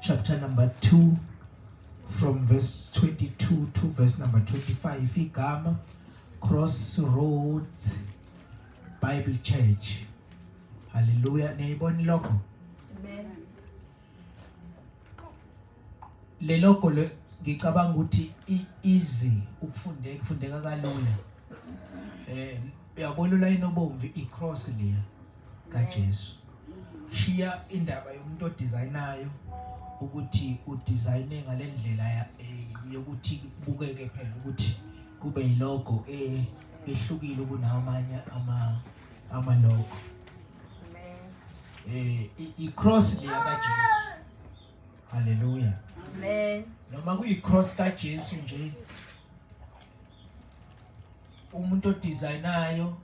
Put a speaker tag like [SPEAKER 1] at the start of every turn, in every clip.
[SPEAKER 1] chapter number 2 from verse 22 to verse number 25 igama Crossroads Bible Church Hallelujah niyibona lokho
[SPEAKER 2] Amen
[SPEAKER 1] Le logo le ngicabanga ukuthi easy ukufundeka kufundeka kalula eh uyabona ulayini obomvu icross leya kaJesu. Shiya indaba yomuntu odizayinayo ukuthi udizayine ngale ndlela eh, yokuthi kubukeke phela ukuthi kube yilogo eh, ehlukile kunawo amanye amalogo. Eh, i-cross leya kaJesu. Haleluya. Amen.
[SPEAKER 2] Noma kuyi-cross
[SPEAKER 1] kaJesu nje umuntu odizayinayo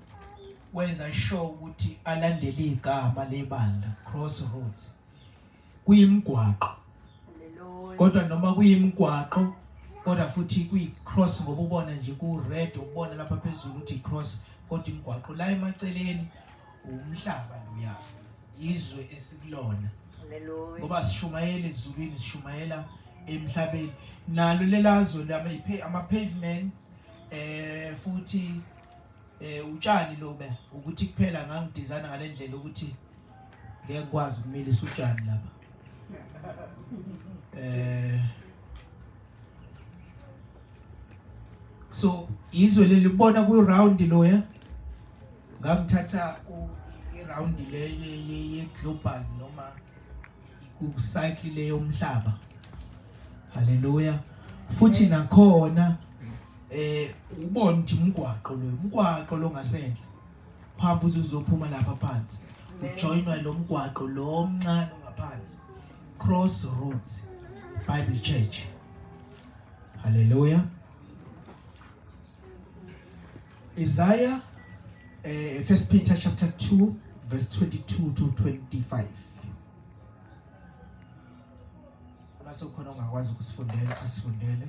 [SPEAKER 1] wenza sure ukuthi alandele igama lebandla crossroads kuyimgwaqo
[SPEAKER 2] kodwa noma
[SPEAKER 1] kuyimgwaqo kodwa futhi kuyi-cross ngoba ubona nje ku-red ubona lapha phezulu ukuthi i-cross kodwa imigwaqo la emaceleni Umhlaba loya izwe esikulona ngoba
[SPEAKER 2] sishumayela
[SPEAKER 1] ezulwini sishumayela emhlabeni nalo lelazwe ama-pavement eh futhi eh utshani lobe ukuthi kuphela ngangidizana ngale ndlela ukuthi ngeke kwazi ukumilisa utshani lapha eh so izwe lelibona ku-round loya ngakuthatha irawundi le ye-global noma kucycle le yomhlaba haleluya futhi nakhona eh ubona ukuthi umgwaqo lo umgwaqo lo ngasendle phamba uzophuma lapha phansi ujoinwa lo mgwaqo lo omncane ongaphansi cross road bible church haleluya Isaiah uh, First Peter chapter 2 verse 22 to 25. Basokhona ongakwazi ukusifundela asifundele.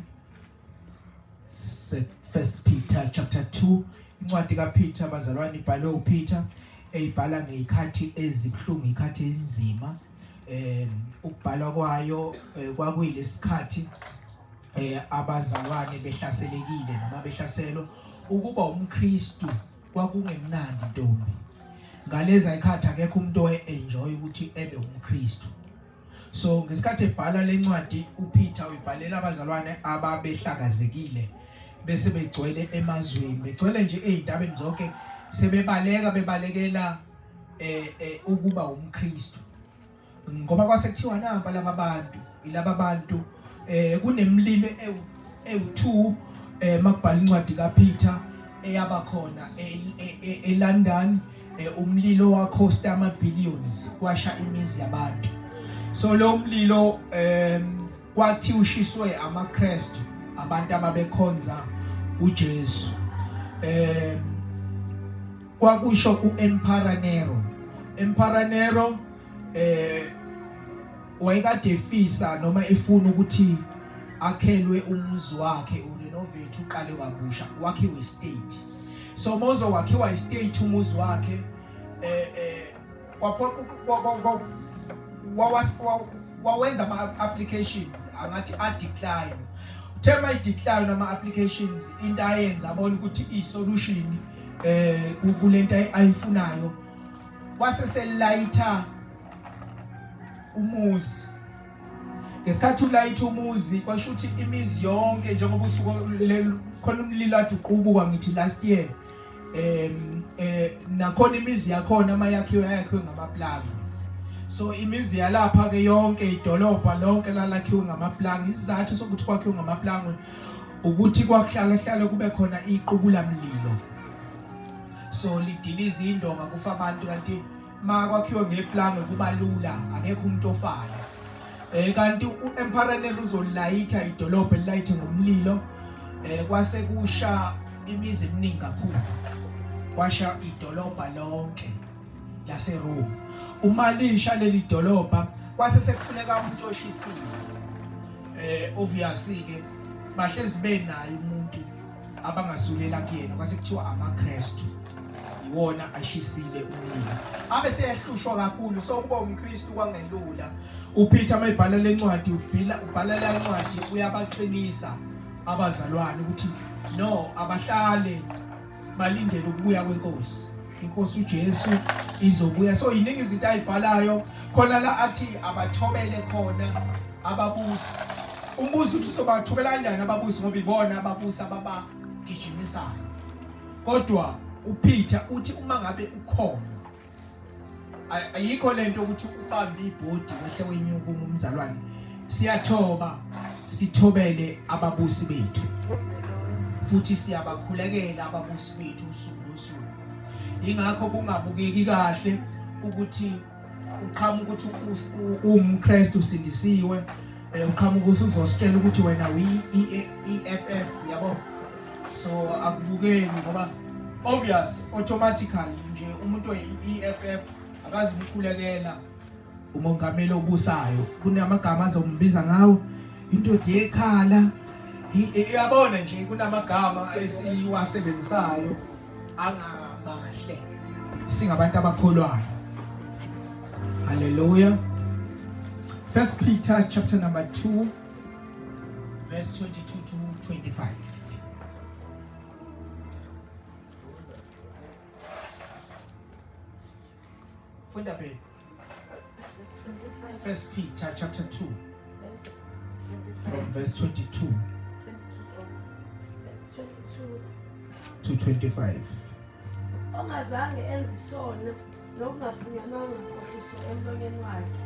[SPEAKER 1] First Peter chapter 2 incwadi kaPeter bazalwane ibhalwe uPeter eyibhala ngeyikhathi ezibuhlungu ikhathi ezinzima eh ukubhalwa kwayo eh, kwakuyilesikhathi eh abazalwane behlaselekile noma behlaselwa ukuba umKristu kwakungemnandi ntombi ngalezi ayikhathi akekho umuntu oe-enjoy ukuthi ebe umKristu so ngesikhathi ebhala lencwadi uPeter uyibhalela abazalwane ababehlakazekile bese begcwele emazweni begcwele nje ezintabeni zonke sebebaleka bebalekela eh, eh ukuba umKristu ngoba kwase kuthiwa naba laba bantu ilaba bantu eh kunemlilo ewu2 eh makubhala incwadi kaPeter eyaba khona eLondon e, e, e, umlilo wakhosta ama billions kwasha imizi yabantu so lo mlilo um Kwathi ushiswe amaKristu abantu ababekhonza uJesu. Eh kwakusho uEmperor Nero. Emperor Nero eh wayekade efisa noma efuna ukuthi akhelwe umuzi wakhe urenovate uqale kabusha wakhiwe state so mozo wakhiwa istate umuzi wakhe eh eh wawenza ama-applications angathi adecline uthe uma idecline ama-applications into ayenza abona ukuthi i-solution um eh, kule nto ayifunayo wase selayitha umuzi ngesikhathi ulayitha umuzi kwasho ukuthi imizi yonke njengoba usuku khona umlilo aduqubuka ngithi last year um eh nakhona imizi yakhona uma yakhiwe yakhiwe ngamaplanga so imizi yalapha ke yonke idolobha lonke lalakhiwe ngamaplanga isizathu sokuthi kwakhiwe ngamaplanga ukuthi kwakuhlala hlale kube khona iqubula mlilo so lidiliza indonga kufa abantu kanti uma kwakhiwe ngeplange kuba lula akekho umuntu ofana um eh, kanti u-emparanel uzolayitha idolobha elilayithe ngomlilo um kwase kusha imizi eminingi kakhulu kwasha idolobha lonke laseroma uma lisha leli dolobha kwase sekufuneka umuntu oshisiwe um eh, obviously-ke bahlezi benayo umuntu abangasulela kuyena kwase kuthiwa amaKristu iwona ashisile umlilo abe seyahlushwa kakhulu so ukuba umKristu kwangelula uPeter mayibhala lencwadi ubhila ubhala lencwadi uyabaqinisa abazalwane ukuthi no abahlale balindele ukubuya kwenkosi inkosi uJesu izobuya so yiningi izinto ayibhalayo khona la athi abathobele khona ababusi umbuzo uthi uzobathobela kanjani ababusi ngoba ibona ababusi ababagijimisayo kodwa uPeter uthi uma ngabe ukhona ayikho lento ukuthi ubambe ibhodi wehle wenyuka umzalwane siyathoba sithobele ababusi bethu futhi siyabakhulekela ababusi bethu usuku yingakho kungabukeki kahle ukuthi uqhamuka ukuthi uwumKristu usindisiwe eh, uqhamuka usuzositshela ukuthi wena uyi-EFF yabo so akubukeki ngoba obvious automatically nje umuntu oyi-EFF akazi ukukhulekela umongameli obusayo kunamagama azombiza ngawo indoda yekhala iyabona nje kunamagama esiwasebenzisayo angamahle singabantu abakholwayo haleluya first peter chapter number 2 verse 22 to 25 Thank you. Funda baby. First Peter chapter 2 from
[SPEAKER 3] verse 22 to 25. Ongazange enze isono nokungafunyanwanga nkohliso emlonyeni wakhe.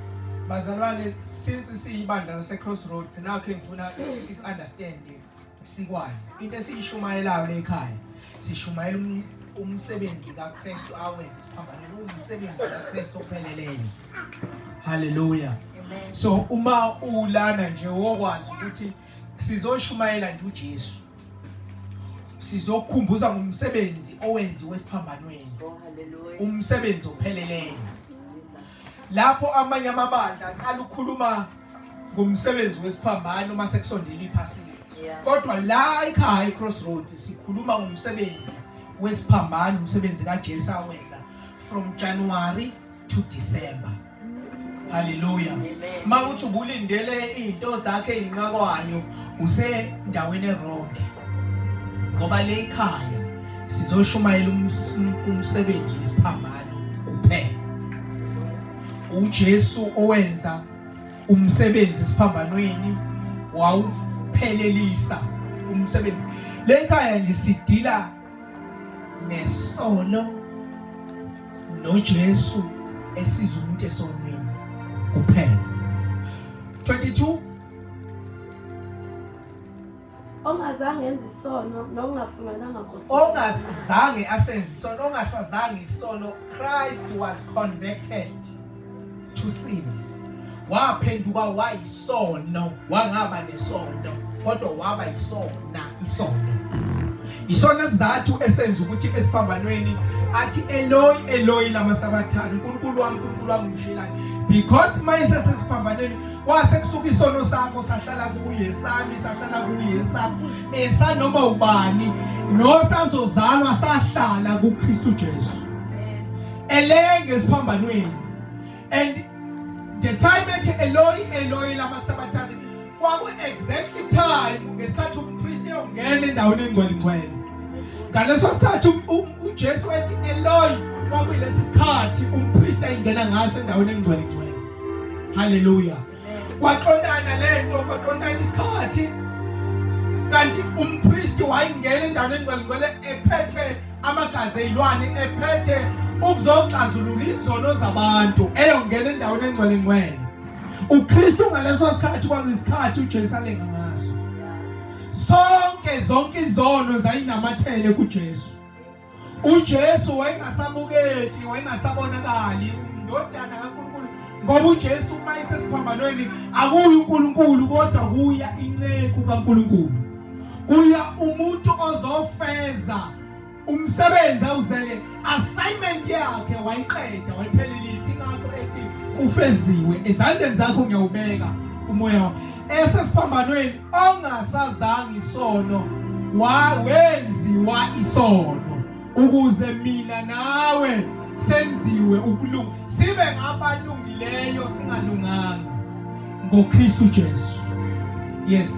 [SPEAKER 3] Bazalwane
[SPEAKER 1] since siyibandla lase Crossroads nakho engifuna si understand sikwazi into esiyishumayelayo le ekhaya sishumayela um-, umsebenzi kaKristu awenze siphambane umsebenzi kaKristu opheleleyo haleluya so
[SPEAKER 2] uma
[SPEAKER 1] ulana nje wokwazi ukuthi sizoshumayela nje uJesu sizokukhumbuza ngomsebenzi owenziwe esiphambanweni oh,
[SPEAKER 2] umsebenzi
[SPEAKER 1] opheleleyo Lapho amanye amabandla aqala ukukhuluma ngomsebenzi wesiphambano uma sekusondela iphasika kodwa la ekhaya i-crossroads sikhuluma ngomsebenzi wesiphambano umsebenzi kajesu awenza from january to december haleluya uma
[SPEAKER 2] uthi ubulindele
[SPEAKER 1] iy'nto zakhe ey'nqakwayo usendaweni eronge ngoba le ikhaya sizoshumayela umsebenzi wesiphambano kuphela uJesu owenza umsebenzi esiphambanweni wawuphelelisa umsebenzi le nkhaya nje sidila nesono noJesu esiza umuntu esonweni kuphela 22
[SPEAKER 3] ongazange enze isono nokungafungananga ongazange
[SPEAKER 1] asenze isono ongasazange isono christ was converted to sin waphenduka wayisono wangaba nesono kodwa waba yisona isono isona sizathu esenza ukuthi esiphambanweni athi eloyi eloyi lama sabathane unkulunkulu wami unkulunkulu wami ngishilani because mayesesesiphambanweni kwase kusuka isono sakho sahlala kuye sami sahlala kuye sakho esanoma ubani nosazozalwa sahlala kuKristu Jesu elenge esiphambanweni and the time ethi Eloi Eloi lama sabathane kwaku exactly time ngesikhathi umpristi ongena endaweni engcwele ngcwele ngaleso sikhathi um, um, uJesu wathi Eloi kwakuyilesi sikhathi umpristi ayingena ngaso endaweni engcwele ngcwele haleluya kwaqondana lento kwaqondana isikhathi kanti umpristi wayengena endaweni engcwelingcwele ephethe amagazi eyilwane ephethe ukuzoxazulula izono zabantu eyongena endaweni engcwelingcwele ukristu ngaleso sikhathi kwakuyisikhathi ujesu alenga ngaso sonke zonke izono zayinamathele kujesu uJesu wayengasabukeki wayengasabonakali undodana kaNkulunkulu ngoba uJesu uma isesiphambanweni akuyi uNkulunkulu kodwa kuya inceku kaNkulunkulu kuya umuntu ozofeza umsebenzi awuzele assignment yakhe wayiqeda wayiphelelisa ingakho ethi kufeziwe ezandleni zakho ngiyawubeka umoya esesiphambanweni ongasazanga isono wenziwa isono ukuze mina nawe senziwe ukulunga sibe ngabalungileyo singalunganga ngoKristu Jesu yes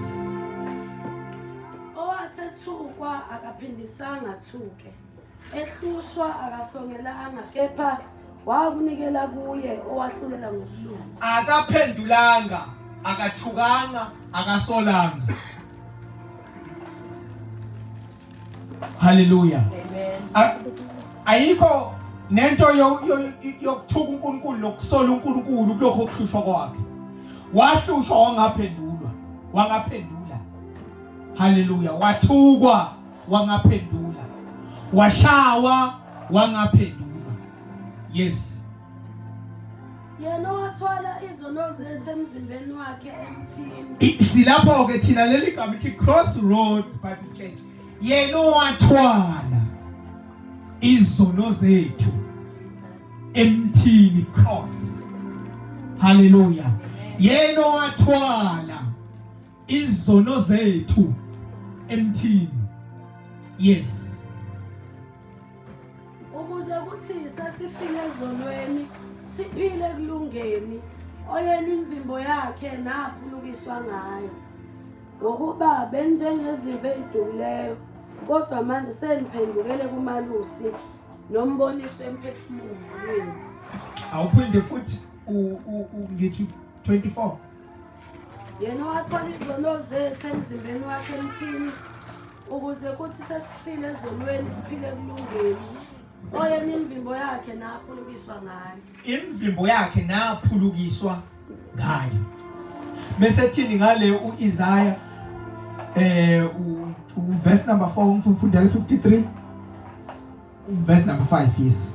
[SPEAKER 1] owathethukwa
[SPEAKER 3] akaphindisanga thuke ehlushwa akasongelanga kepha wakunikela kuye owahlulela ngokulunga akaphendulanga
[SPEAKER 1] akathukanga akasolanga haleluya
[SPEAKER 2] ayikho
[SPEAKER 1] nento yokuthuka uNkulunkulu nokusola uNkulunkulu kulokho okuhlushwa kwakhe wahlushwa wangaphendulwa wangaphendula haleluya wathukwa wangaphendula washawa wangaphendula yes yena wathwala izono
[SPEAKER 3] zethu emzimbeni wakhe emthini silapho ke
[SPEAKER 1] thina leli gama ithi crossroads bible church yena wathwala izono zethu emthini cross haleluya yena wathwala izono zethu emthini yes
[SPEAKER 3] ukuze kuthi sasifike ezonweni siphile ekulungeni oyena imvimbo yakhe naphulukiswa ngayo ngokuba benjengezinto ezidumileyo kodwa manje seniphendukele kumalusi nomboniso emphefumulweni
[SPEAKER 1] awuphinde futhi ngithi 24
[SPEAKER 3] yena owathola izono zethu emzimbeni wakhe emthini ukuze kuthi sesiphile ezonweni siphile kulungeni oyena imvimbo yakhe naphulukiswa ngayo imvimbo yakhe
[SPEAKER 1] naphulukiswa ngayo bese thini ngale uIsaya eh uverse number 4 umfundela 53 verse number 5 yes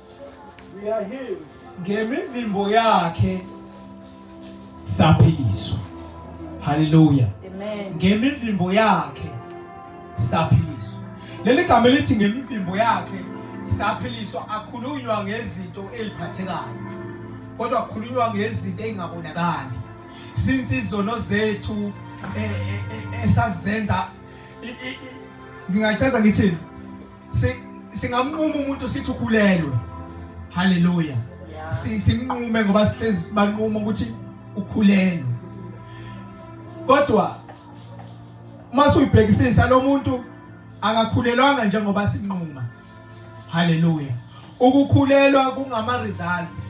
[SPEAKER 4] ngemivimbo
[SPEAKER 1] yakhe saphiliswa haleluya
[SPEAKER 2] ngemivimbo yakhe
[SPEAKER 1] saphiliswa leli gama elithi ngemivimbo yakhe saphiliswa akhulunywa ngezinto eziphathekayo kodwa akhulunywa ngezinto ezingabonakali since izono zethu eh, eh, eh, esazenza ngingachaza ngithini singamnquma umuntu sithi ukhulelwe haleluya simnqume ngoba sihlezi banquma ukuthi ukhulelwe kodwa mase uyibhekisisa lo muntu akakhulelwanga njengoba sinquma haleluya ukukhulelwa kungama results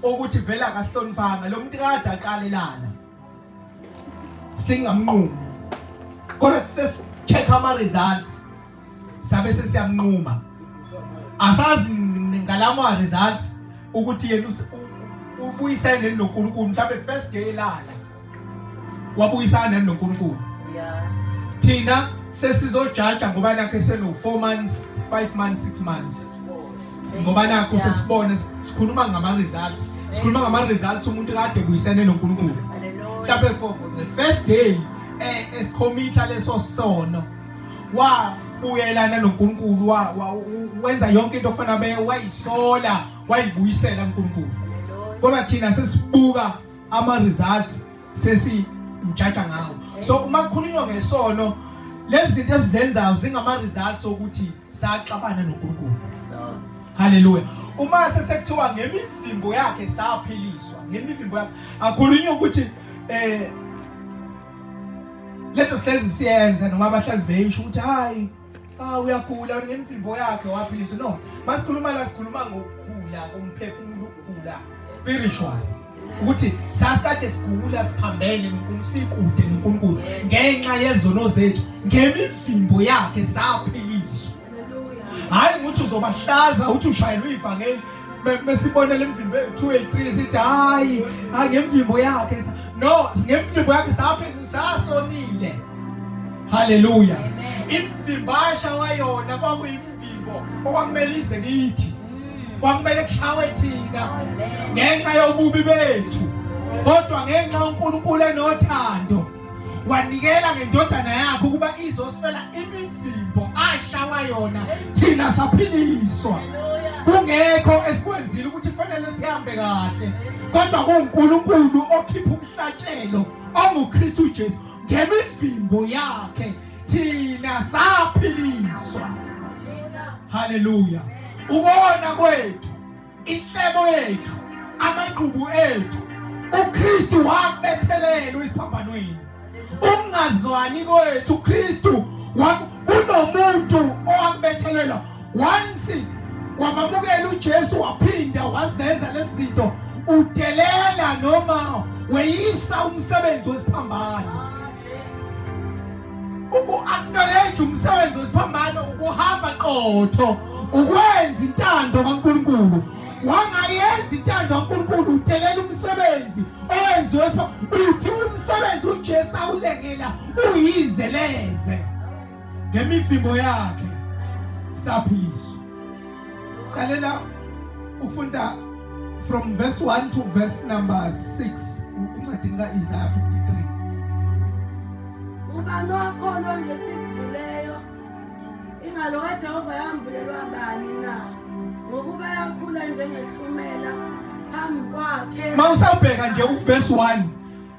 [SPEAKER 1] okuthi vele akahloniphanga lo muntu kade aqalelana singamnqumi kodwa sesi-check ama-results sabe sesiyamnquma asazi ngalama-results ukuthi yena ubuyisane neni nonkulunkulu mhlawumbe first day elala wabuyisana neni nonkulunkulu
[SPEAKER 2] thina
[SPEAKER 1] sesizojaja ngoba nakhe seno-four months five months six months ngoba nakho sesibone sikhuluma ngama-results sikhuluma ngama-results umuntu kade buyisene nonkulunkulu mhlawumbe for the first day ekhomitha eh, eh, leso sono wabuyelana nonkulunkulu wenza yonke into okufana be wayisola wayibuyisela unkulunkulu kodwa thina sesibuka ama-results sesimjaja ngawo so uma kukhulunywa ngesono lezi zinto esizenzayo zingama-results okuthi saxabana noNkulunkulu haleluya uma sesekuthiwa ngemivimbo yakhe saphiliswa ngemivimbo yakhe akhulunywe ukuthi eh lento sihlezi siyenza noma abahlezi beyisho ukuthi hayi ah uyagula ngemivimbo yakhe waphiliswa no masikhuluma la sikhuluma ngokugula komphefumulo ukugula spiritual ukuthi sasikade sigula siphambene noNkulunkulu sikude noNkulunkulu ngenxa yezono zethu ngemivimbo yakhe saphiliswa hayi ukuthi uzobahlaza uthi ushayelwe ivangeli mesibona lemvimbo ethu 2 3 sithi hayi hayi ngemvimbo yakhe no ngemvimbo yakhe saphe sasonile haleluya imvimbasha wayona kwakuyi Yebo, okwamele ize kithi. Mm. Kwamele kushawe thina ngenxa yobubi bethu. Kodwa ngenxa uNkulunkulu enothando wanikela ngendodana yakhe ukuba izosifela imivimbo ashawa yona thina saphiliswa. Kungekho esikwenzile ukuthi kufanele sihambe kahle. Kodwa kuNkulunkulu okhipha umhlatshelo onguKristu Jesu ngemivimbo yakhe thina saphiliswa haleluya ukona kwethu inhlebo yethu amagqubu ethu uKristu wakubethelelwa isiphambanweni ukungazwani kwethu uKristu kunomuntu owakubethelelwa once wamamukela uJesu waphinda wazenza lezi zinto udelela noma weyisa umsebenzi wesiphambano uku-acknowledge umsebenzi wesiphambano ukuhamba qotho ukwenza intando kaNkulunkulu wangayenza intando kaNkulunkulu udelela umsebenzi owenziwe uthi umsebenzi uJesu awulekela uyizeleze ngemivimbo yakhe saphiliswa qalela ufunda from verse 1 to verse number 6 incwadini ka-isaya 53
[SPEAKER 3] ubani wakholwa ngesikudluleyo ingalo kajehova yambulelwa bani na ngokuba yakhula njengehlumela phambi kwakhe ma usabheka nje
[SPEAKER 1] uvesi 1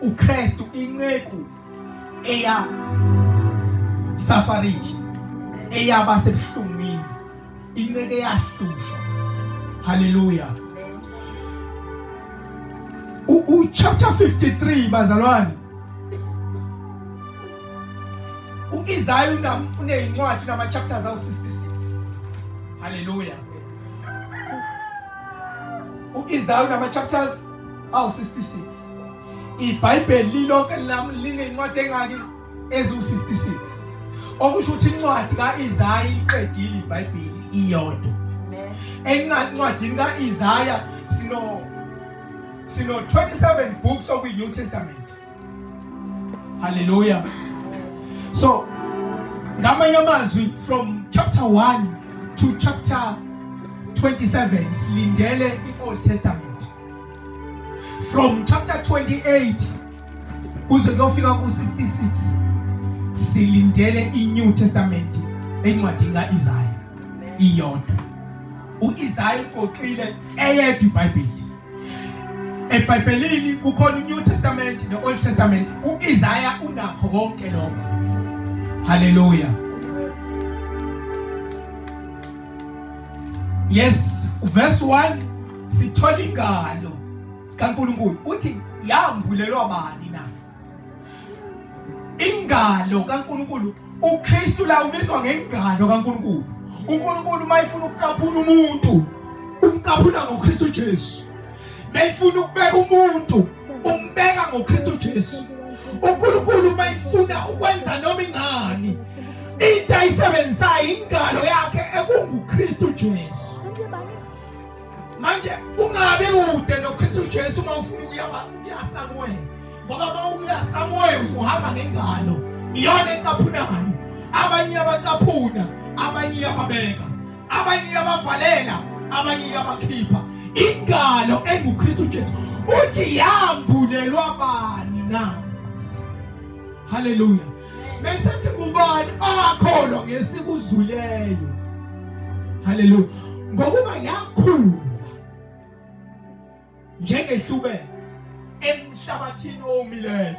[SPEAKER 1] uKristu inceku eya safariki eyaba sebuhlungwini inceku eyahlushwa haleluya u chapter 53 bazalwane uIsaya unezincwadi nama chapters awu 66 haleluya uIsaya unama chapters awu 66 ibhayibheli lilonke lami linencwadi engaki eziwu-66 okusho ukuthi incwadi ka-isaya iqedile ibhayibheli iyodwa encwadini ka-isaya sino sino-27 books okuyi-new testament Hallelujah. So, ngamanye amazwi from chapter 1 to chapter 27 silindele i-Old Testament. From chapter 28 kuze kuyofika ku-66 silindele i-New Testament encwadini ka-Isaya iyodwa. U-Isaya ugoqile eyedwa iBhayibheli. EBhayibhelini kukhona iNew Testament ne-Old Testament. U-Isaya unakho konke lokho. Haleluya. Yes, verse 1 sithola ingalo kaNkulunkulu uthi yambulelwa bani ingalo kaNkulunkulu uKristu la ubizwa ngengalo kaNkulunkulu uNkulunkulu uma efuna ukucaphuna umuntu umcaphuna ngoKristu Jesu mayifuna ukubeka umuntu umbeka ngoKristu Jesu uNkulunkulu uma efuna ukwenza noma ingani into ayisebenzisayo ingalo yakhe ekunguKristu Jesu manje ungabi kude nokristu jesu uma ufuna ukuyasa kuwena ngoba uma uyasa moya usuhamba ngengalo iyona ecaphunayo abanye iyabacaphuna abanye iyababeka abanye iyabavalela abanye iyabakhipha ingalo engukristu jesu uthi yambulelwa bani na haleluya mesethi kubani akholwa ngesikuzuleyo haleluya ngokuba yakhula njengehlubele emhlabathini owomileyo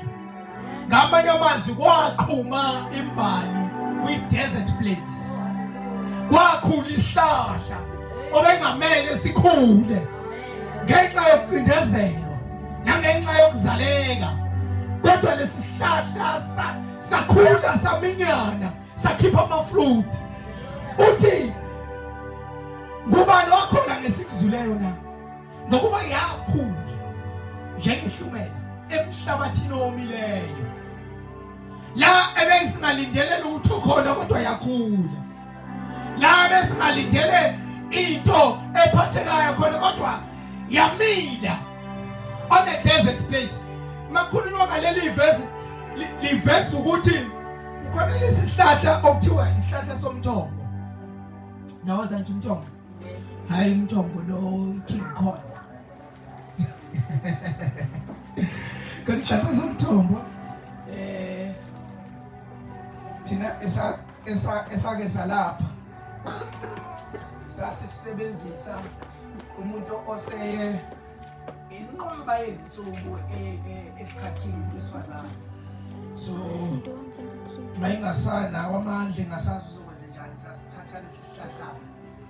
[SPEAKER 1] ngamanye amazwi kwaqhuma imbali kwi-desert place kwakhula isihlahla obengamele sikhule ngenxa yokucindezelwa nangenxa yokuzaleka kodwa lesi sihlahla sakhula saminyana sakhipha amafruthi uthi ngubani okhona ngesikuzwileyo na ngokuba yakhula njengehlumela emhlabathini owomileyo la ebeyisingalindele lutho khona kodwa yakhula la besingalindele into ephathekayo khona kodwa yamila on a desert place makhulunywa ngaleli vesi livesa ukuthi khona lesi sihlahla okuthiwa isihlahla somthombo nawaza nje umthombo hayi umthombo lo king khona Kodwa ishaza somthombo eh thina esa esa esake salapha sasisebenzisa umuntu oseye inqwaba yensuku e, e, esikhathini sesifazane so mayingasana kwamandla engasazizokwenze njani sasithatha lesi sihlahla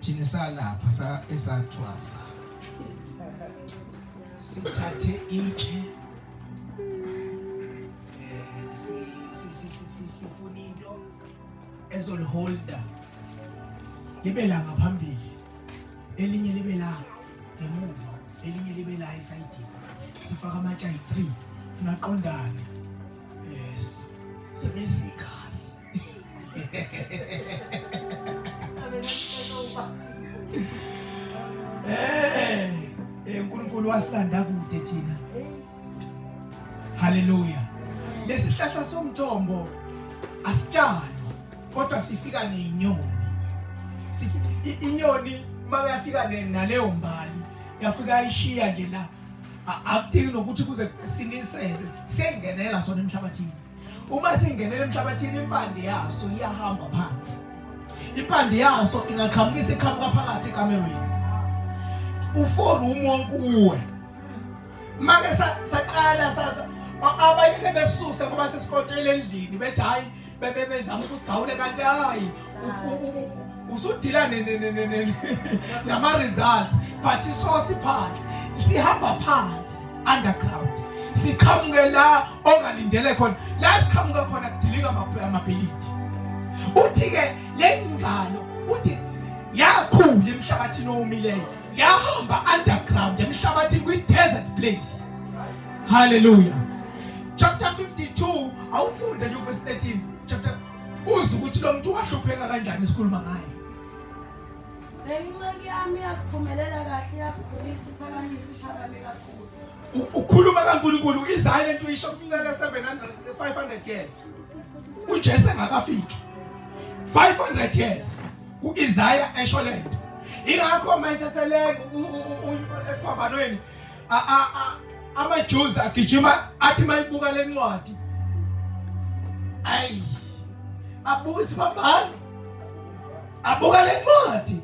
[SPEAKER 1] thina salapha sa esathwasa sithathe itshe sifuna into ezoliholda libe la ngaphambili elinye libe la ngemuva elinye libe la esayidini sifaka amatsha yi-three funa qondane yes sebenzisa igazi Eh, eh, uNkulunkulu wasilanda kude thina. Haleluya. Lesihlahla somthombo asitshalwa kodwa sifika nenyoni. Inyoni makuyafika naleyo mbali yafika ishiya nje la akudingi nokuthi kuze siniselwe sengenela sona emhlabathini uma singenela emhlabathini impande yaso iyahamba phansi impande yaso ingaqhamukisa iqhamuka phakathi ekamerweni ufori umonke uwe make saqala sasa abanye ke besuse ngoba sesikontela endlini bethi hayi bebezama ukusigawule kanti hayi usudila nama-results but isosi phansi sihamba phansi underground siqhamuke la ongalindele khona la siqhamuke khona kudilika amabhilidi uthi-ke le ngalo uthi yakhula emhlabathini owomileyo yahamba underground emhlabathini kwi-desert place hallelujah chapter 52 awufunde nje uvesi 13 chapter uze ukuthi lo muntu wahlupheka kanjani sikhuluma ngaye Benginceki
[SPEAKER 3] yami yakuphumelela kahle yakukhulisa uphakamisa ushabame kakhulu. Ukhuluma kaNkulunkulu
[SPEAKER 1] izayile into isho kusinele 700 500 years. UJesu engakafiki. 500 years uIsaiah esho lento. Ingakho mayisesele esiphambanweni amaJews agijima athi mayibuka lencwadi ayi abuka isibambano abuka lencwadi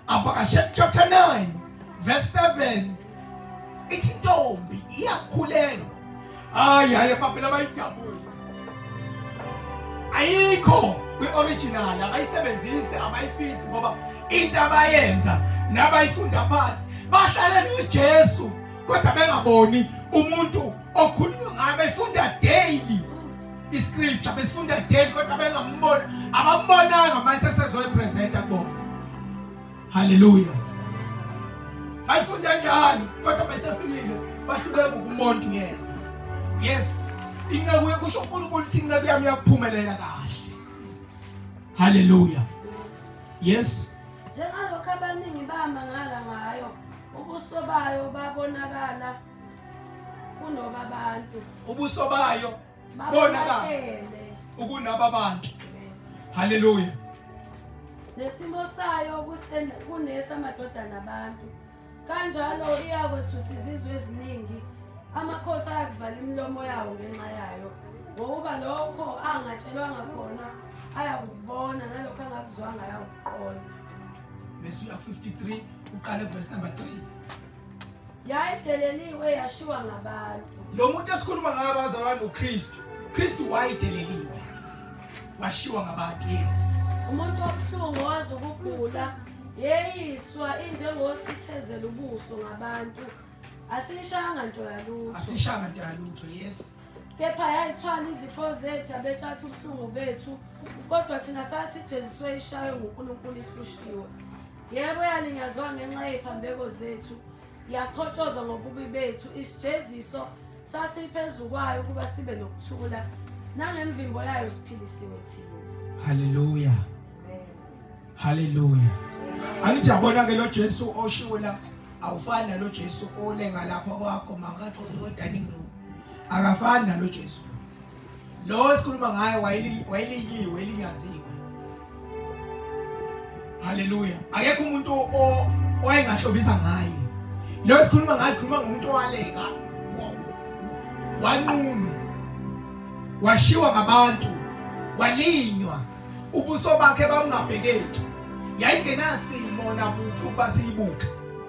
[SPEAKER 1] avakashe chapter 9 verse 7 ithi intombi iyakhulelwa Hayi hayi bafela bayijabule. Ayikho kwi-original abayisebenzisi abayifisi ngoba into abayenza nabayifunda phansi bahlale noJesu kodwa bengaboni umuntu okhulunywa ngaye befunda daily iscripture besifunda daily kodwa bengamboni abambonanga mase sezoyipresenta kubona Haleluya. Ayifunda njalo kodwa besefikile bahluleka ukumonta yena. Yes. Inceku yekusho uNkulunkulu ukuthi inceku yami yakuphumelela kahle.
[SPEAKER 3] Haleluya. Yes. Njengalokho abaningi
[SPEAKER 1] bamangala
[SPEAKER 3] ngayo ubuso bayo babonakala kunoba abantu. Ubuso bayo
[SPEAKER 1] bonakale
[SPEAKER 3] ukunaba bantu
[SPEAKER 1] haleluya
[SPEAKER 3] nesimo sayo kunesa madodana abantu kanjalo iyakwethusa izizwe eziningi amakhosi ayakuvala imilomo yawo ngenxa yayo ngokuba lokho angatshelwanga khona ayakubona nalokho angakuzwanga ayakuqonda bese
[SPEAKER 1] uya 53 uqale verse number 3 yayideleliwe
[SPEAKER 3] yashiwa ngabantu lo muntu esikhuluma
[SPEAKER 1] ngayo abazalwa noKristu Kristu wayideleliwe washiwa ngabantu yes umuntu
[SPEAKER 3] obuhlungu wazi ukugula yeyiswa injengosithezela ubuso ngabantu asishanga nto yalutho asishanga nto yalutho
[SPEAKER 1] yes kepha
[SPEAKER 3] yayithwala izifo zethu abetshatha ubuhlungu bethu kodwa thina sathi ijeziswe ishaywe ngunkulunkulu ihlushiwe Yebo yalinyazwa ngenxa yephambeko zethu, yakhotshozwa ngobubi bethu, isijeziso sasiphezu kwayo ukuba sibe nokuthula, nangemvimbo yayo siphilisiwe thina. Haleluya.
[SPEAKER 1] Haleluya. Angithi yabona ke lo Jesu oshiwo la awufani nalo Jesu olenga lapha kwakho makathi ukodani akafani nalo Jesu. Lo esikhuluma ngaye wayelinyiwe elinyaziwe. Haleluya. Akekho umuntu owayengahlobisa ngaye. Lo esikhuluma ngaye sikhuluma ngomuntu owaleka. Wanqunu. Washiwa ngabantu. Walinywa. Ubuso bakhe bamngabhekeki. Yayingenasimo nabuhle ukuba siyibuke.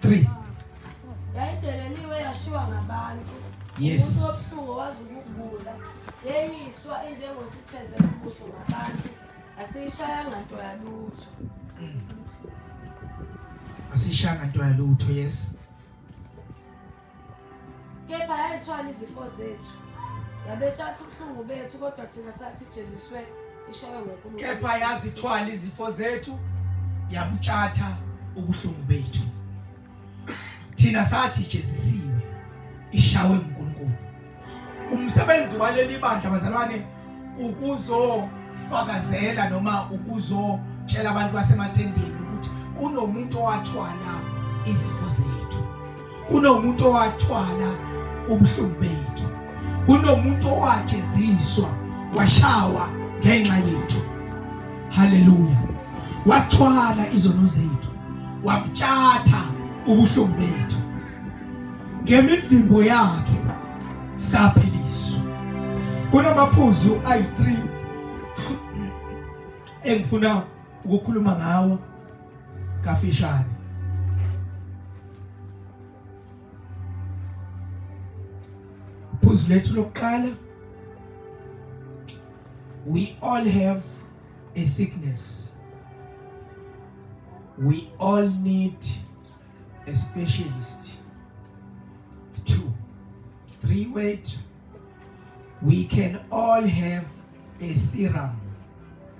[SPEAKER 3] Three. Yayideleliwe yashiwa ngabantu. Yes. Umuntu
[SPEAKER 1] obuhlungu wazi
[SPEAKER 3] ukugula. Yeyiswa enjengositheze kubuso ngabantu. Asiyishayanga nto yalutho.
[SPEAKER 1] Mm. Asiyishayanga nto yalutho, yes.
[SPEAKER 3] kepha yayithwala izifo zethu yabetshatha ubuhlungu bethu kodwa thina sathi jeziswe ishawe ngonkulunkulu kepha yazithwala
[SPEAKER 1] izifo zethu yabutshatha ubuhlungu bethu thina sathi jezisiwe ishawe Umsebenzi waleli bandla bazalwane ukuzofakazela noma ukuzotshela abantu basemathendeni ukuthi kunomuntu owathwala izifo zethu. Kunomuntu owathwala ubuhlungu bethu. Kunomuntu owajeziswa washawa ngenxa yethu. Haleluya. Wathwala izono zethu. Wabuthatha ubuhlungu bethu. ngemivimbo yakhe saphiliswa. Kunamaphuzu ayi-3 engifuna ukukhuluma ngawo kafishane. Phuzu lethu lokuqala we all have a sickness. We all need a specialist two three word we can all have a serum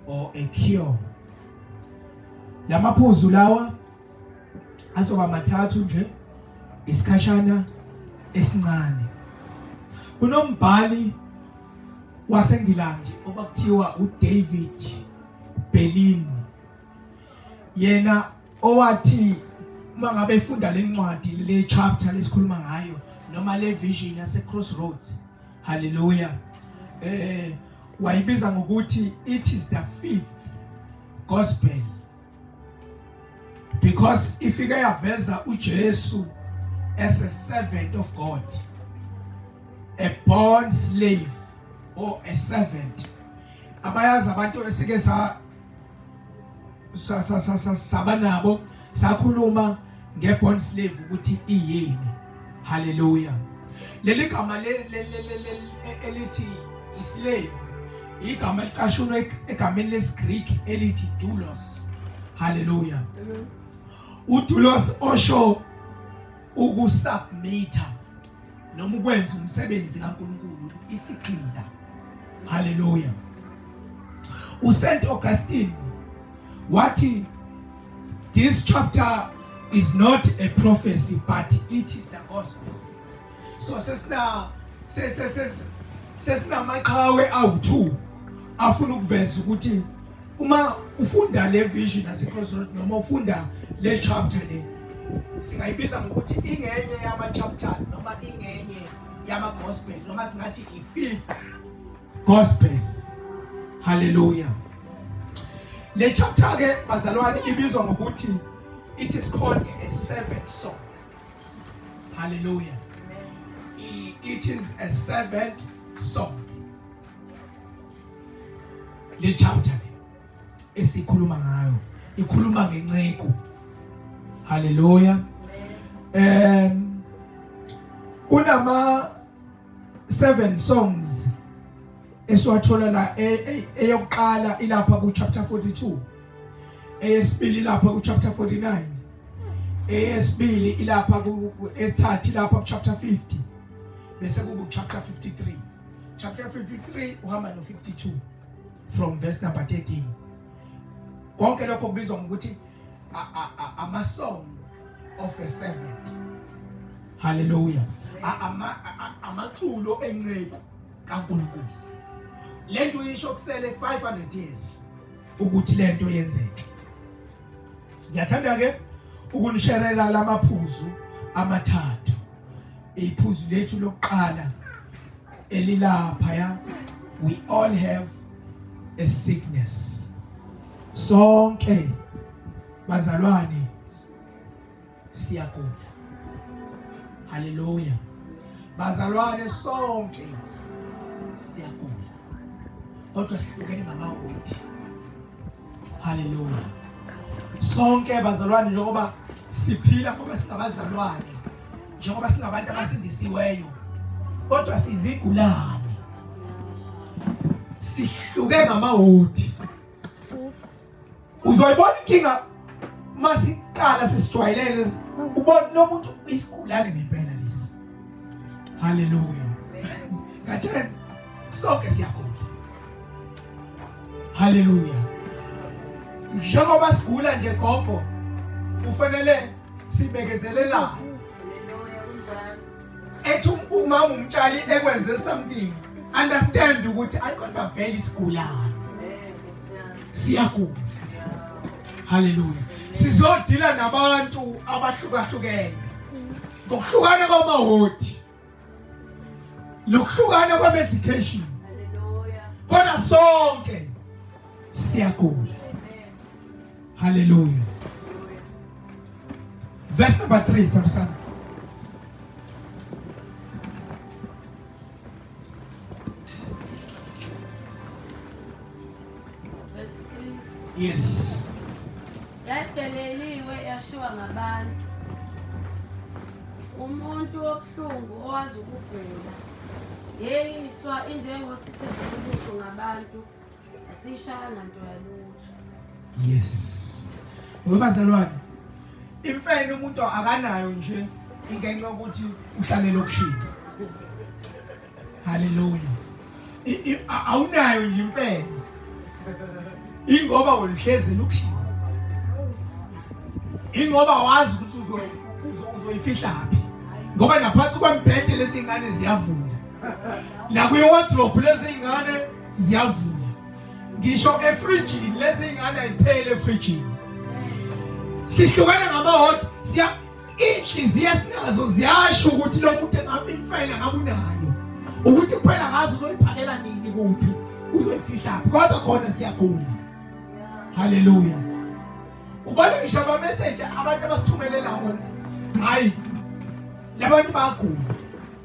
[SPEAKER 1] or a cure lamaphuzu lawa azoba mathathu nje isikhashana esincane kunombhali waseNgilandi okwakuthiwa uDavid Berlin yena owathi uma ngabe efunda le ncwadi le chapter lesikhuluma ngayo noma le vision yase crossroads haleluya eh wayibiza ngokuthi it is the fifth gospel because ifike yaveza uJesu as a servant of God a born slave or a servant abayazi abantu esike sa saba nabo sakhuluma ngebond slave ukuthi iyini haleluya leli gama elithi islave igama elicashunwe egameni lesiGreek elithi doulos haleluya udoulos osho ukusubmita noma ukwenza umsebenzi kaNkulunkulu isigqiza haleluya uSaint Augustine wathi this chapter is not a prophecy but it is the gospel so sesina sesina sesina maqhawe awu2 afuna ukuveza ukuthi uma ufunda le vision yaseCrossroad noma ufunda le chapter le singayibiza ngokuthi ingenye yama-chapters noma ingenye yama-gospel noma singathi i-fifth gospel haleluya le chapter-ke bazalwane ibizwa ngokuthi it is called a seventh song haleluya it is a seventh song le chapter esikhuluma ngayo ikhuluma ngenceku haleluya um kunama seven songs esiwathola la e, e, eyokuqala ilapha ku chapter 42 eyesibili lapha ku chapter 49 eyesibili ilapha ku esithathu lapha ku chapter 50 bese kubu chapter 53 chapter 53 uhamba no 52 from verse number 13 konke lokho kubizwa ngokuthi ama song of a servant haleluya ama amaculo enceku kaNkulunkulu lento uyisho kusele 500 years ukuthi lento yenzeke ngiyathanda ke ukunisherela lamaphuzu amathathu iphuzu lethu lokuqala elilapha ya we all have a sickness sonke bazalwane siyagula. Haleluya. Bazalwane sonke siyagula. Kodwa sihlukene ngamawodi. Haleluya. Sonke bazalwane njengoba siphila ngoba singabazalwane njengoba singabantu abasindisiweyo kodwa sizigulane sihluke ngamawodi uzoyibona inkinga masiqala sesijwayelele ubona lo muntu isigulane ngempela lesi haleluya ngatshela sonke siyagula haleluya njengoba sigula nje gogo kufanele sibekezelelane
[SPEAKER 2] ethi um-,
[SPEAKER 1] umama umtshali ekwenze something understand ukuthi ayikodwa vele isigulane siyagula. Haleluya. Sizodila nabantu abahlukahlukene. Ngokuhlukana kwamahodi. Lokuhlukana kwa medication. Haleluya.
[SPEAKER 2] Kodwa
[SPEAKER 1] sonke siyagula. Haleluya. Verse number 3 sakusana.
[SPEAKER 3] Yes.
[SPEAKER 1] Yadeleliwe
[SPEAKER 3] yashiwa ngabantu. Umuntu obuhlungu owazi ukugula. Yeyiswa injengosithe ubuso ngabantu. Asishayanga nto
[SPEAKER 1] yalutho. Yes. Webazalwane. Imfene umuntu akanayo nje ingenxa ukuthi uhlale lokushini. Hallelujah. Awunayo nje imfene. Ingoba woluhlezi lokushini. Ingoba wazi ukuthi uzo uzoyifihla phi. Ngoba naphansi kwembhede lezingane ziyavula. Nakuye wardrobe lezingane ziyavuka ngisho efrijini lezi ingane ayiphele efrijini sihlukene ngamahodi siya inhliziyo esinazo ziyasho ukuthi lo muntu engabe imfayela ngabe unayo ukuthi kuphela ngazi uzoyiphakela nini kuphi uzoyifihla kodwa khona siyagula haleluya ubona ngisho abameseji abantu abasithumelela wona hayi labantu bagula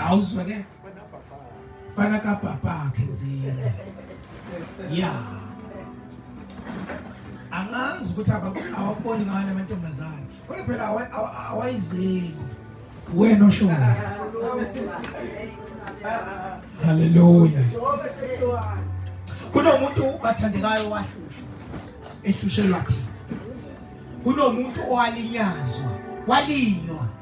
[SPEAKER 1] awuzwe ke fana kabhabhakhe nzima ya angazi ukuthi awakuboni ngani amantombazane kodwa phela awayizeli wena oshoyo haleluya kunomuntu bathandekayo wahlushwa ehlushelwa thina kunomuntu owalinyazwa walinywa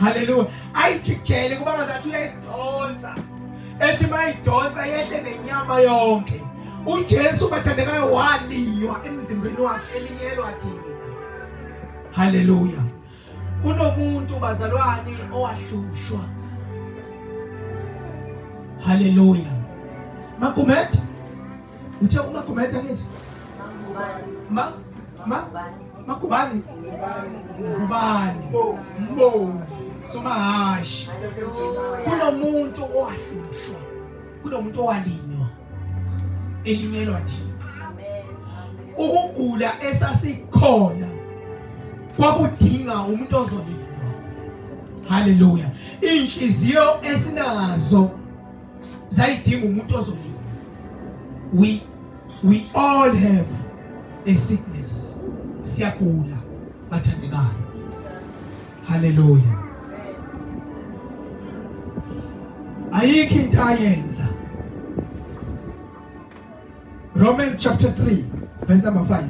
[SPEAKER 1] haleluya ayijikijele kuba ngazathi uyayidonsa ethi mayidonsa yehle nenyama yonke ujesu bathandekayo walinywa emzimbeni wakhe elinyelwa thina haleluya kunomuntu bazalwane owahlushwa haleluya magumet Uthe uma commander ngithi ma ma makubani ngubani mbo somahashi kunomuntu owahlushwa kunomuntu owalinywa elinyelwa thina ukugula esasikhona kwakudinga umuntu ozolindwa haleluya inhliziyo esinazo zayidinga umuntu ozolima we we all have a sickness siyagula bathandekayo haleluya ayikho into ayenza Romans chapter 3 verse number 5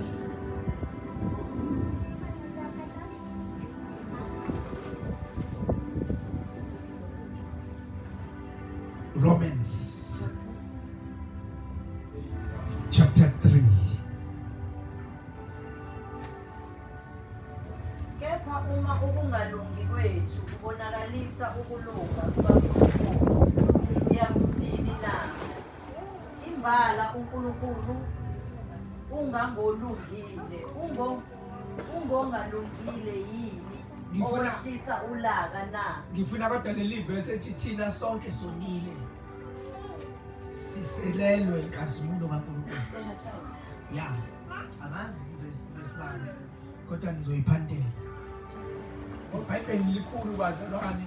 [SPEAKER 1] Thank you. Romans chapter 3
[SPEAKER 2] kepha uma ukungalungi kwethu kubonakalisa ukulunga kukaNkulunkulu siyakuthini na imbala uNkulunkulu ungangolungile ungo ungongalungile yini owehlisa ulaka na ngifuna kodwa leli
[SPEAKER 1] verse ethi thina sonke sonile siselelwe inkazimulo kaNkulunkulu ya angazi verse verse bani kodwa nizoyiphantela ibhayibheli likhulu bazalwane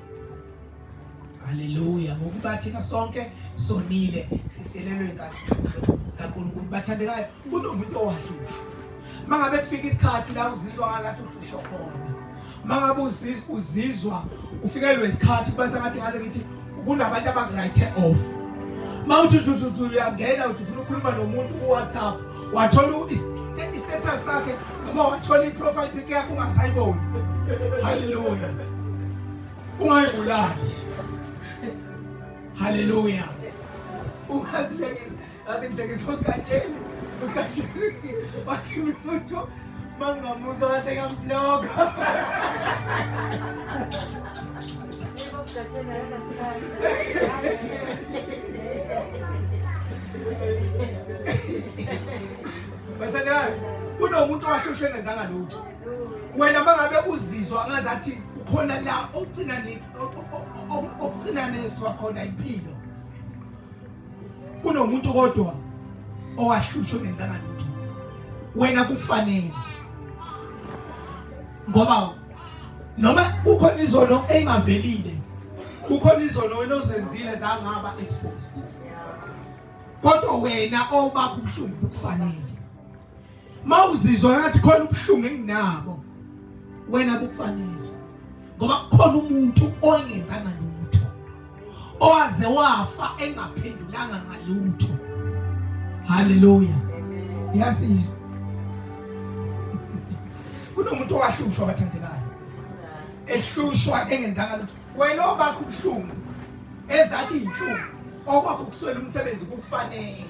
[SPEAKER 1] Haleluya. Ngokuba thina sonke sonile siselelwe inkazimulo kaNkulunkulu. Bathandekayo, kunomuntu owahlushwa. Mangabe kufika isikhathi la uzizwa ngathi uhlushwa khona. Mangabe uzizwa ufikelwe isikhathi kuba sengathi ngaze ngithi kunabantu abangright off. Mawuthi uthi uthi uyangena uthi ufuna ukukhuluma nomuntu ku WhatsApp wathola i-status sakhe noma wathola i-profile pic yakhe ungasayiboni haleluya ungayibulali haleluya ungazihlekisa ngathi ngihlekisa ugatsheni ugatsheni wathi umuntu Mangamuso kahle ngamvlog. Bathandani, kunomuntu owashoshe engenzanga lutho. Wena mangabe uzizwa ngazathi khona la ogcina ogcina nezwa khona impilo kunomuntu kodwa owahlushwa ongenzanga lutho wena kukufanele ngoba noma kukhona izono engavelile kukhona izono wena ozenzile zangaba exposed kodwa wena obakho ubuhlungu bukufanele mawuzizwa ngathi khona ubuhlungu enginabo wena bukufanele ngoba kukhona umuntu ongenzanga lutho owaze wafa engaphendulanga ngalutho haleluya yasi kunomuntu owahlushwa bathandekayo ehlushwa engenzanga lutho wena obakho ubuhlungu ezathi iy'nhlungu okwakho ukuswela umsebenzi kukufanele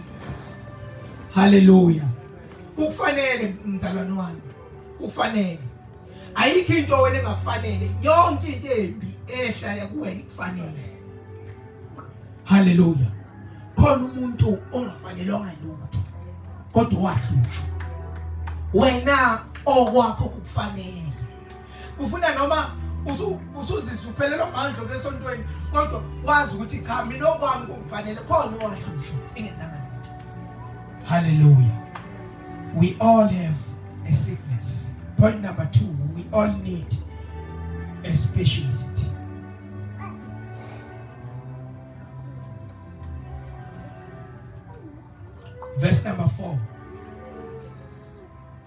[SPEAKER 1] haleluya kukufanele mzalwane wami kukufanele ayikho into wena engakufanele yonke into embi ehlaya kuwena ikufanele haleluya khona umuntu ongafanelwanga lutho kodwa wahlutshwa wena okwakho kukufanele kufuna noma usuzizwa uphelelwa ngandlo kwesontweni kodwa wazi ukuthi cha mina okwami kungifanele khona owashusha engenzanga lutho haleluya we all have a sickness point number two we all need a specialist verse number four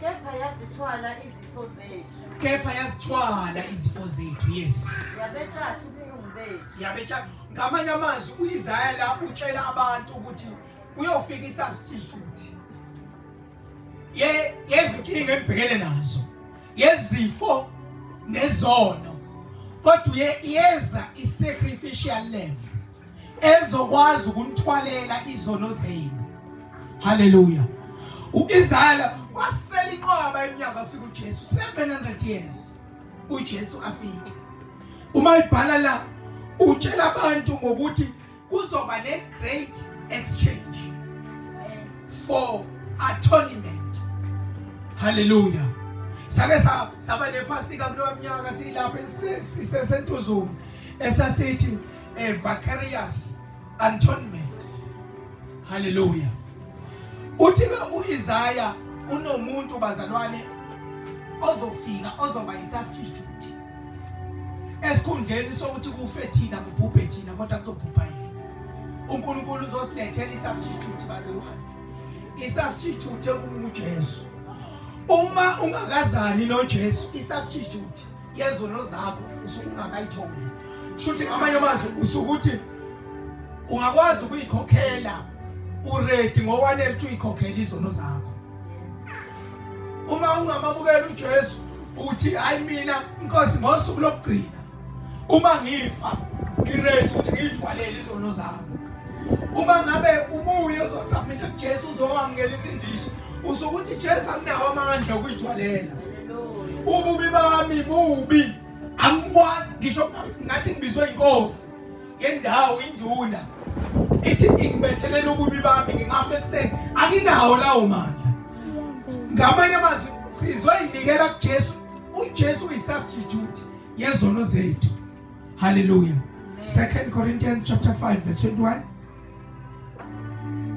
[SPEAKER 2] kepha yazithwala izifo zethu kepha yazithwala
[SPEAKER 1] izifo zethu yes yabethatha
[SPEAKER 2] ubuhlungu bethu yabecha ngamanye
[SPEAKER 1] amazwi uIsaya la utshela abantu ukuthi kuyofika isubstitute yezinkinga engibhekene nazo yezifo nezono kodwa yeza i-sacrificial lamb ezokwazi ukunithwalela izono zenu haleluya uIsaya wasela inqwaba eminyaka afika uJesu 700 years uJesu afike uma ibhala la utshela abantu ngokuthi kuzoba le great exchange for atonement haleluya sake saba nephasika kulowa mnyaka silapho sisesentuzuma esasithi a eh, vicarious atonement haleluya uthi ke uIsaya kunomuntu bazalwane ozofika ozoba yisafifty esikhundleni sokuthi kufe thina kubhubhe thina kodwa kuzobhubha yena unkulunkulu uzosilethela isubstitute bazalwane isubstitute ekungujesu uma ungakazani nojesu isubstitute yezono zakho usuke ungakayitholi shuthi ngamanye amazwi usuke uthi ungakwazi ukuyikhokhela uredi ngowanele ukuthi uyikhokhele izono zakho uma ungamamukela uJesu uthi hayi mina inkosi ngosuku lokugcina uma ngifa ngiready ukuthi ngiyithwalele izono zami uma ngabe ubuye uzosubmit uJesu uzowamukela imfundiso usukuthi Jesu akunawo amandla okuyithwalela ububi bami bubi angikwazi ngisho ngathi ngibizwe inkosi yendawo induna ithi ingibethelela ububi bami ngingafe ekuseni anginawo lawo mandla ngamanye amazwi sizoyinikela kuJesu uJesu uyisubstitute yezono zethu haleluya 2 Corinthians chapter 5 verse 21 Thank you.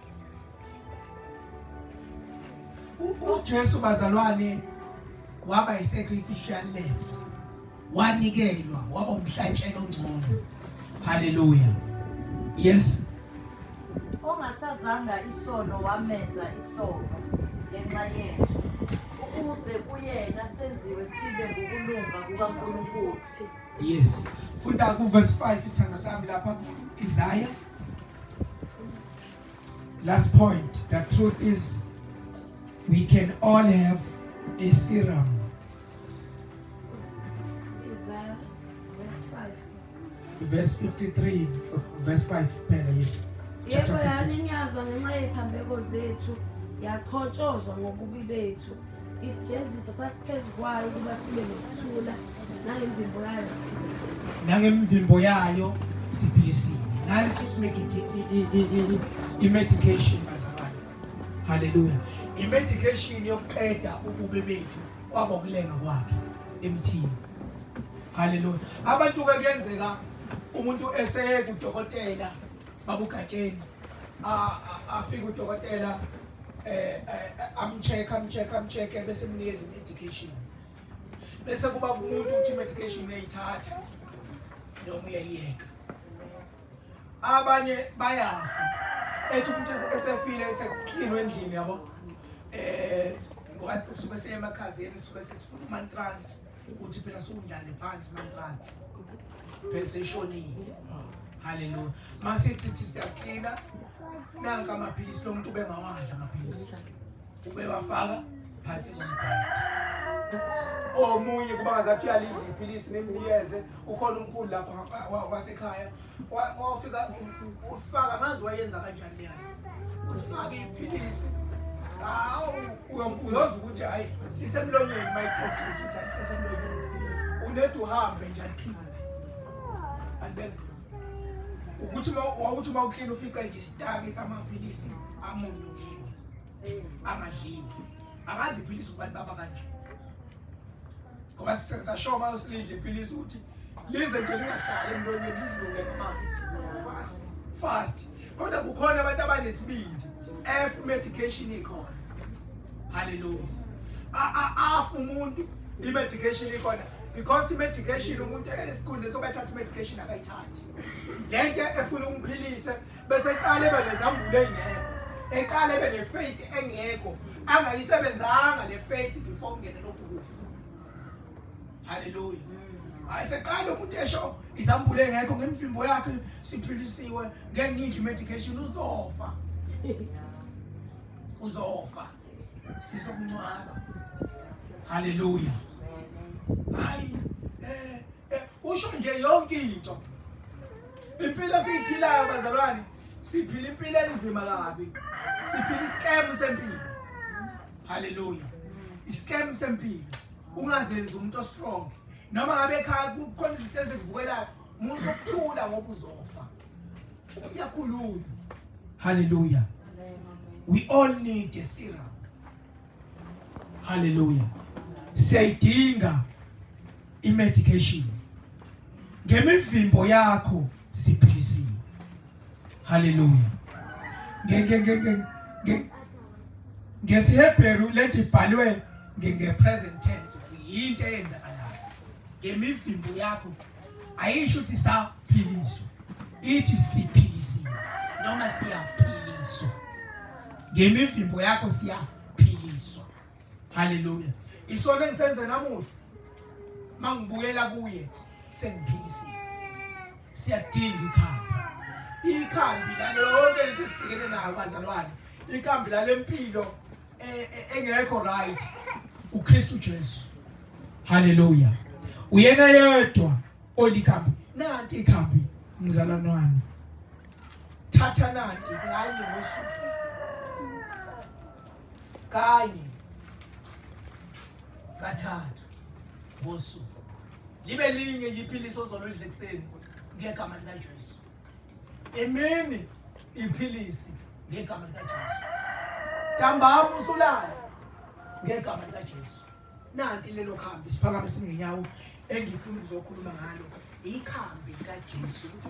[SPEAKER 1] uJesu bazalwane waba yisacrificial lamb wanikelwa waba umhlatshelo ongcono haleluya yes ongasazanga
[SPEAKER 2] isono wamenza isono ngenxa yethu ukuze kuyena senziwe sibe ngokulunga kukaNkulunkulu yes
[SPEAKER 1] funda kuverse 5 isithando sami lapha Isaiah Last point, the truth is we can all have a serum. Isaiah verse
[SPEAKER 3] 5. Verse
[SPEAKER 1] 53, verse
[SPEAKER 3] 5 phela yes. Yebo yani ngiyazwa
[SPEAKER 1] ngenxa
[SPEAKER 3] yephambeko zethu yaqhotshozwa ngobubi bethu isijeziso sasiphezu kwayo ukuba sibe nokuthula nangemvimbo
[SPEAKER 1] yayo siphilisi nangemvimbo yayo siphilisi nansi i-medication bazalwane haleluya i-medication yokuqeda ububi bethu kwabokulenga kwakhe emthini haleluya abantu-ke kuyenzeka umuntu eseye kudokotela babugatsheni afike udokotela um amcheck amcheck amcheck bese mnikeza i-medication bese kuba kumuntu ukuthi medication uyayithatha noma uyayiyeka abanye bayazi ethi umuntu esefile eseklinwe endlini yabo eh suke seyemakhazeni suke sesifuna umantrans ukuthi phela sukundlale phansi umantrans phela seshonile haleluya masithi siyaklina nanka amaphilisi lo muntu ubengawadla amaphilisi ubewafaka phansi omunye kuba ngazathi uyalidla iphilisi nembiyeze ukhona umkhulu lapha wasekhaya wafika ufaka ngazi wayenza kanjani leyo ufaka iphilisi hawu uyoza ukuthi hhayi isemlonyeni uma ixoxisa ukuthi ayisesemlonyeni unethi uhambe nje aliphinde alibeke ukuthi wawuthi uma uklini ufica nje isitaki samaphilisi amunye angadliwa angazi iphilisi ukuba libaba kanje ngoba sisenza sure uma usilidla iphilisi ukuthi lize nje lingahlali emlonyeni lidlule amanzi fast fast kodwa kukhona abantu abanesibindi f medication ikhona haleluya afu umuntu i-medication ikhona because i-medication umuntu esikhundleni sokubathatha i-medication akayithathi le nto efuna umphilise bese eqala ebe nezambulo ey'ngekho eqala ebe ne-faith engekho angayisebenzanga le faith before kungene lokhu kufa halleluya hayi seqala umuntu esho izambulo engekho ngemvimbo yakhe siphilisiwe ngeke ngidle i-medication uzofa uzofa sizokuncwaba halleluya hayi um usho nje yonke into Impilo esiyiphilayo bazalwane, siphila impilo enzima kabi. Siphila iscam sempilo. Hallelujah. Iscam sempilo. Ungazenzi umuntu ostrong. Noma ngabe ekhaya kukhona izinto ezikuvukelayo, umuntu sokuthula ngoba uzofa. Uyakhuluma. Hallelujah. We all need a syrup. haleluya siyayidinga imedication ngemivimbo yakho siphilisiwe haleluya ngesihebheru lento ibhalwe nge-present tense yinto eyenzakalayo ngemivimbo yakho ayisho ukuthi saphiliswa ithi siphilisiwe noma siyaphiliswa ngemivimbo yakho siyaphiliswa haleluya isona engisenze namuhla mangibuyela kuye sengiphilisiwe siyadinga ikhaya ikhambi lale yonke lento esibhekene nayo bazalwane ikhambi lale mpilo e, e, engekho right uKristu Jesu haleluya uyena yedwa olikhambi nanti ikhambi mzalwane wami thatha nanti kanye ngosuku kanye kathathu ngosuku libe linye yiphilisi ozoludla ekuseni ngegama likaJesu Emini iphilisi ngegama likaJesu. Ntambama usulala ngegama likaJesu. Nanti lelo khambi siphakame singenyawo engifuna ukuzokhuluma ngalo ikhambi likaJesu ukuthi